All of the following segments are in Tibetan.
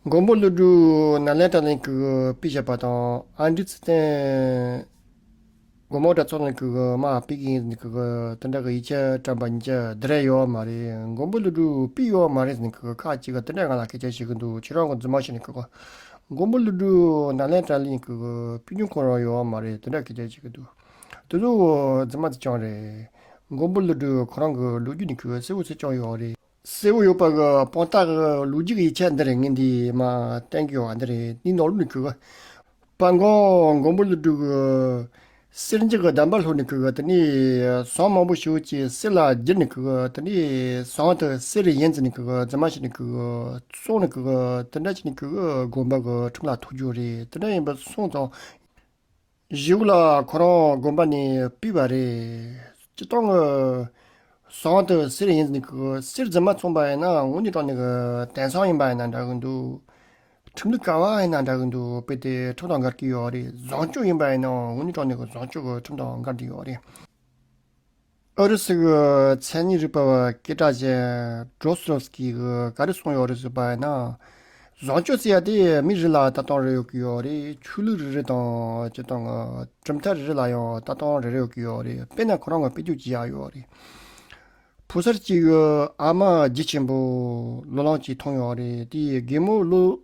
མགོན་པོ་ཀླུ་སྒྲུབ་ནཱ་ལེནྡྲ་གླིང་གི་དཔེ་ཆ་པ་དང་ཨ་འབྲི་ཚེ་བརྟན། དགོན་པོ་གྲྭ་ཚོགས་གླིང་གི་མ་དཔེ་རྒན་ཟེར་གྱི་དོན་དག་གི་ཡིག་ཆ་བཀྲམ་པ་གཉིས་ཀ་འདི་རེད་ཡོད་མ་རེད་མགོན་པོ་ཀླུ་སྒྲུབ་དཔེ་ཡོད་མ་རེད་ཟེར་གྱི་ཁག་གཅིག་གིས་དེ་འདྲ་ང་ལ་སྐད་ཆ་བཤད་ཀྱི་འདུག་ཁྱེད་རང་གི་རྫུན་མ་ཤེས་ནས་གི་མགོན་པོ་ཀླུ་སྒྲུབ་ནཱ་ལེནྡྲ་གླིང་གི་དཔེ་རྒྱུན་གོ་རང་ཡོད་མ་རེད་དེ་འདྲ་སྐད་ཆ་བཤད་ཀྱི་འདུག་དེ་ལུགས་རྫུན་མ་དེ་རྐྱང་རེད་མགོན་པོ་ཀླུ་སྒྲུབ་ཁོ་རང་གི་ལོ་རྒྱུས་ནི་གི་གསལ་བོ་ཚིག་རྐྱང་ཡོད་རེད། གསལ་བོ་ཡོད་པ་གི་དཔང་རྟགས་ཀྱི་ལུགས་ཀྱི་ཡིག་ཆ་འདི་རེ་ངས་འདིའི་མ་གཏན་གྱི་བ་འདི་རེ་འདིའི་ནང་ལུགས་ནས་ཁུར་གི། པ་མགོན་མགོན་པོ་ལ་སྒྲུག་གི། སེར་འཇིགས་ཀྱི་གདམས་པ་ལྷུར་ནས་ཁུར་གི་དེ་ནས་ཟངས་མང་པོ་ཞོ་གཅིག་གསེར་ལ་བསྒྱུར་ནས་ཁུར་གི་དེ་ནས་ཟངས་དེ་གསེར་རེ་ཡན་བཙིར་ནས་ཁུར་གི་རྫི་མ་བྱས་ནས་ཁུར་གི། བཙོང་ནས་ཁུར་གི་དེ་འདྲ་བྱས་ནས་ཁུར་གི་དགོན་པ་གི་ཁྲིམས་ལ་ཐུག་རྒྱུ་རེད་དེ་འདྲ་ཡིན་པ་སོང་ཙང། བཞུགས་ལ་ཁོ་རང་དགོན་པ་ནས་བཏུས་པ་རེད། སྤྱི་སྟོང་གི། ཟངས་དུ་གསེར་ཡིན་ཟིན་གི་གསེར་རྫུན་མ་མཚུངས་པ་ཡིན་ན་དངུལ་ནས་དཀྲོགས་ནས་གི་དེང་སང་ཡིན་པ་ཡིན་ན་འདྲ་གི་འདུག། ཁྲིམས་ལུགས་ག་བ་ཡིན་ན་འདྲ་གི་འདུག་དཔེ་དེ་ཁྲིམས་དང་འགལ་གྱི་ཡོད་རེད་ཟངས་སྤྱོད་ཡིན་པ་ཡིན་ནའང་དངུལ་ནས་དཀྲོགས་ནས་གི་ཟངས་སྤྱོད་གི་ཁྲིམས་དང་འགལ་གྱི་ཡོད་རེད། ཨུ་རུ་སུའི་མཚན་ཉིད་རིག་པ་བ་སྐད་གྲགས་ཅན Dros Srotsky ག་རེ་གསུངས་ཡོད་རེད་ཟེར་པ་ཡིན་ན། བཟང་སྤྱོད་ཟེར་ཡ་དེ་མི་རེ་ལ་ལྟ་སྟངས་རེ་ཡོད་ཀྱི་ཡོད་རེད་ཆོས་ལུགས་རེ་རེ་དང་ཅེས་དང། གྲུབ་མཐའ་རེ་རེ་ལ་ཡང་ལྟ་སྟངས་རེ་རེ་ཡོད་ཀྱི་ཡོད་རེད་དཔེར་ན་ཁོ་རང་ངོ་སྤེལ་རྒྱུ་ཅི་ཡག་ཡོད་རེད། ཕོ་གསར་གཅིག་ཨ་མ་བརྗེད་ཆེན་པོ་ལོ་ལངས་ཀྱིས་མཐོང་ཡོད་རེད་དེ་གད་མོ་བླུགས།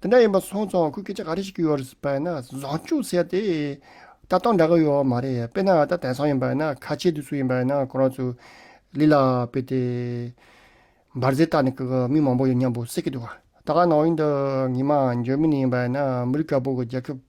དེ་འདྲ་ཡིན་པ་སོང་ཙང་ཁོས་སྐད་ཆ་ག་རེ་ཞིག་བརྒྱུད་ཡོད་རེད་ཟེར་བ་ན་བཟང་ཅུང་ཟད་དེ། ལྟ་སྟངས་འདྲ་གི་ཡོད་བ་མ་རེད་དཔེར་ན་ད་དེང་སང་ཡིན་པ་ཡིན་ན་ཁ་ཆེ་དུས་སུ་ཡིན་པ་ཡིན་ན་ཁོ་རང་ཚོས་ལི་ལ་བུད་དེ། འབར་རྫས་བཏགས་ནས་ཀྱི་མི་མང་པོ་ཡོད་སྙམ་པོ་སེ་གི་འདུག་ད་ག་ནང་ཡིན་འདུག་ངེད་མ་འཇོན་མི་ནི་ཡིན་པ་ཡིན་ན་མི་རིགས་དཀར་པོ་གི་རྒྱལ་ཁབ།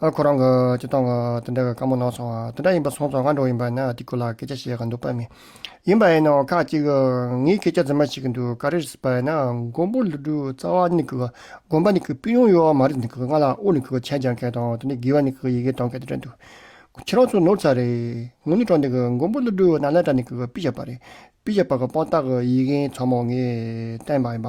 ཨ་ཁོ་རང་གི་སྤྱི་སྟངས་དེ་འདྲ་གི་དཀའ་མོ་ནང་སོང་བ་དེ་འདྲ་ཡིན་པ་སོང་ཙང་ང་འགྲོ་ཡིན་པ་ན་དེ་ཁུ་ལ་སྐད་ཆ་བཤད་གི་འདུག་པ་མི་ཡིན་པ་ཡིན་ན་འོང་ཁག་ཅིག་ངའི་སྐད་ཆ་རྫུན་མ་བཤད་གི་འདུག་ག་རེ་བ་ཡིན་ན་མགོན་པོ་ལི་སྒྲུ་རྩ་བ་ནི་གི་དགོན་པ་ནི་གི་པི་ཡོང་ཡོག་མ་རེད་འདི་གི་ང་ལ་ཨོ་ནི་གི་མཆན་སྦྱང་མཁན་དང་དེ་ནི་དགེ་བ་ནི་གི་ཡི་གེ་འདོན་མཁན་དེ་འདྲ་འདུག་ཁྱེད་རང་ཚོ་ནོར་ཚ་རེད་ངོ་ནི་དྲང་འདི་གི་མགོན་པོ་ལི་སྒྲུ་ནཱ་ལེནྡྲ་ནི་གི་པི་ཞབས་པ་རེད་པི་ཞབས་པ་གི་དཔང་རྟགས་གི་ཡི་གེ་མཚམས་མོ་ངས་བསྟན་པ་ཡིན་པ་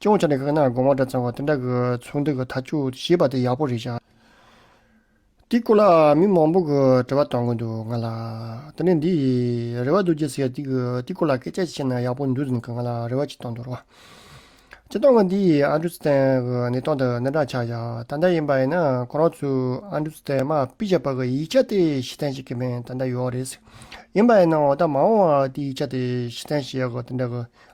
སྐྱོང་བྱས་ནས་ག་ནར་དགོངས་པ་འདྲ་ཚང་བ་དེ་འདྲ་གི་ཚོགས་འདུ་གི་ཐག་གཅོད་བྱས་པ་དེ་ཡག་པོ་རེད་ཤག་དེའི་སྐོར་ལ་མི་མང་པོ་གི་དྲི་བ་གཏོང་གི་འདུག་ང་ལ། དེ་ནས་འདི། རེ་བ་རྡོ་རྗེ་ཟེར་དེ་གི་དེའི་སྐོར་ལ་སྐད་ཆ་བཤད་ན་ཡག་པོ་འདུག་ཟིན་གི་ང་ལ་རེ་བ་ཅིག་གཏོང་འདུག་རོགས། སྤྱི་སྟངས་ཀྱི་འདི་ཨ་འབྲུ་སྟན་གི་གནས་སྟངས་དེ་གནས་དྲག་ཆགས་ཤག་ད་ལྟ་ཡིན་པ་ཡིན་ན་ཁོ་རང་ཚོས་ཨ་འབྲུ་སྟན་དམག་སྤི་བྱ་བ་གི་ཡིག་ཆ་དེ་ཤི་ཐན་བྱེད་ཀྱི་མིན་ད་ལྟ་ཡོའོ་རེད། ཡིན་པ་ཡིན་ན་འོ་ད་མ་འོང་བར་དེ་ཡིག་ཆ་དེ་ཤི་ཐན་བྱེད་ཡག་གི་དེ་འདྲ་གི་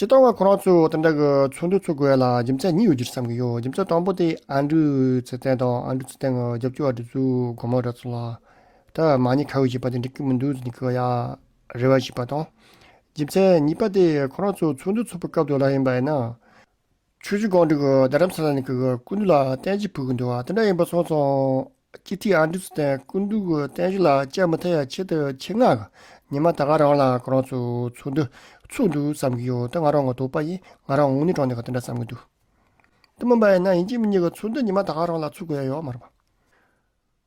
སྤྱི་བཏང་བ་ཁོ་རང་ཚོས་དེ་འདྲ་གི་ཚོགས་འདུ་ཚོགས་དགོས་ལ་རྒྱུ་མཚན་གཉིས་ཡོད་རྒྱུར་བསམ་གྱི་ཡོད་རྒྱུ་མཚན་དང་པོ་དེ་ཨན་ཀྲུའུ་ཚེ་བརྟན་དང་ཨན་ཀྲུའུ་ཚེ་བརྟན་གྱི་རྒྱབ་སྐྱོར་བ་དེ་ཚོའི་སྒོར་མོ་རེད་ཚོད་ལ། ད་མ་ཉེས་ཁ་འོས་བྱས་པ་དེ་འགྲིག་གི་མི་འདུག་ཟེར་ནས་ཁོས་ཡ་རེ་བ་བྱས་པ་དང། རྒྱུ་མཚན་གཉིས་པ་དེ་ཁོ་རང་ཚོས་ཚོགས་འདུ་ཚོགས་པའི་སྐབས་དུ་ལ་ཡིན་པ་ཡིན་ན། ཆོས་རྗེ་ཀོང་སྤྲུལ་གྱི་རྡ་རམ་ས་ལ་ནས་ཀྱི་སྐུ་མདུན་ལ་བསྟན་བྱའི་བུ་གུ་འདུལ་བ་དེ་འདྲ་ཡིན་པ་སོང་སོང། སྤྱི་ཐིག་ཨ་འབྲུག་ཚུ་བསྟན་སྐུ་མདུན་གྱི་བསྟན་བྱ་ལ་དཔྱད་མ་ཐེབས་ཡ་ཆེད་དུ་ཆེད་མངགས་གི་ཉི་མ་ད་ག་རང་ལ་ག་རང་ཚུ་ཚུགས་འདུག་ཚུགས་འདུག་བསམ་གྱི་ཡོད་དེ་ང་རང་ང་དོག་པ་ཡིན་ང་རང་ངུ་ནི་གྲོང་ནས་ག་དེ་འདྲ་བསམ་གྱི་འདུག་དེ་མིན་པ་ཡིན་ན་ཡིན་གཅིག་མིན་གཅིག་གི་ཚུགས་འདུག་ཉི་མ་ད་ག་རང་ལ་ཚུགས་དགོས་ཡ་ཡོད་མ་རེད་པ།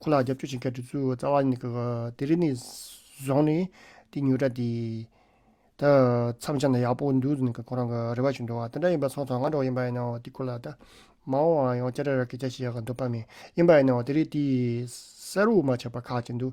ཁོ་ལ་རྒྱབ་སྐྱོར་བྱེད་མཁན་དེ་ཚོའི་རྩ་བ་ནི་དེ་རིང་ནས་བཟུང་ནས་དེ་ཉོས་དྲ་དེ་ད་མཚམས་ཆ་ན་ཡག་པོ་འདུག་ནས་ཁོ་རང་གི་རེ་བ་ཞུ་འདུག་དེ་འདྲ་ཡིན་པ་སོང་ཙང་ང་འགྲོ་ཡིན་པ་ཡིན་ནའོ་དེ་ཁོ་ལ་ད་མ་འོང་བའང་ཡང་སྐྱ་རེ་རེ་སྐད་ཆ་བཤད་ཀྱི་འདུག་པ་མིན་ཡིན་པ་ཡིན་ནའོ་དེ་རིང་དེའི་སར་དབུ་མ་ཆེ་བ་ཁག་ཅིག་འདུག་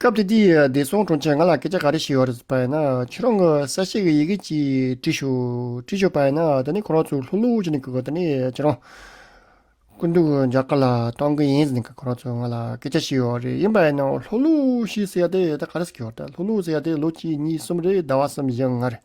སྐབས་དེ་དུས་བདེ་སྲུང་དྲུང་ཆེས་ང་ལ་སྐད་ཆ་ག་རེ་བཤད་ཡོད་པ་ཡིན་ན། ཁྱེད་རང་གི་ས་བཤད་ཀྱི་ཡི་གེ་གཅིག་བྲིས་ཤོག་བྲིས་ཤོག་པ་ཡིན་ན་ད་ནི་ཁོ་རང་ཚོ་ལྷུག་ལྷུག་བྱས་ནས་ཁྱེད་རང་སྐུ་མདུན་རྒྱ་གར་ལ་གཏོང་གི་ཡིན་ཟེར་ནས་ཁོ་རང་ཚོས་ང་ལ་སྐད་ཆ་བཤད་ཡོད་རེད་ཡིན་པ་ཡིན་ན་ལྷུག་ལྷུག་ཞེས་ཟེར་ཡ་དེ་ད་ག་རེ་ཟེར་གྱི་ཡོད་རེད་ལྷུག་ལྷུག་ཟེར་ཡ་དེ་ལོ་གཅིག་གཉིས་གསུམ་རེད་ཟླ་བ་གསུམ་བཞི་ལྔ་རེད།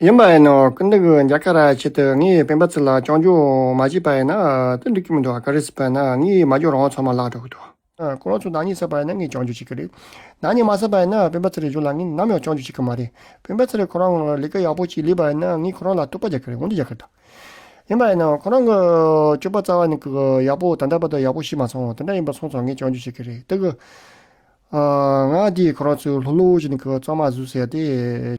ཡིན་པ་ཡིན་ནོ། ཀུན་དགའ་བོ་འཇའ་ཀ་ར་ཁྱེད་དེ་ངའི་སྤེན་པ་ཚོ་ལ་ཅོང་ཇོ་མ་བྱེད་པ་ཡིན་ན་དེ་འགྲིག་གི་མི་འདུག་ག་རེ་ཟེར་བ་ཡིན་ན་ངའི་མ་རྒྱོ་རང་ཚོ་མ་བརླག་འགྲོ་གི་འདུག། ཁོ་རང་ཚོ་ནག་ཉེས་བསགས་པ་ཡིན་ན་ངས་ཅོང་ཇོ་བྱེད་ཀྱི་རེད། ནག་ཉེས་མ་བསགས་པ་ཡིན་ན་སྤེན་པ་ཚེ་རིང་ཇོ་ལ་ངས་ནམ་ཡང་ཅོང་ཇོ་བྱེད་ཀྱི་མ་རེད། སྤེན་པ་ཚེ་རིང་ཁོ་རང་ལས་ཀ་ཡག་པོ་ཅིག་ལས་པ་ཡིན་ན་ངས་ཁོ་རང་ལ་རྟོག་པ་རྒྱག་གི་རེད་འོན་ཏེ་རྒྱག་གི་མི་འདུག། ཡིན་པ་ཡིན་ནོ། ཁོ་རང་གི་སྤྱོད་པ་རྩ་བ་ནས་ཡག་པོ་དང་འདྲ་པར་དུ་ཡག་པོ་ཤེས་མ་སོང་དེ་འདྲ་ཡིན་པ་སོང་ཙང་ངས་ཅོང་ཇོ་བྱེད་ཀྱི་རེད་དེ། ང་འདིས་ཁོ་རང་ཚོའི་ལྷོ་ལྷོ་བྱས་ནས་གཙང་མ་བཟོས་ཟེར་ཏེ།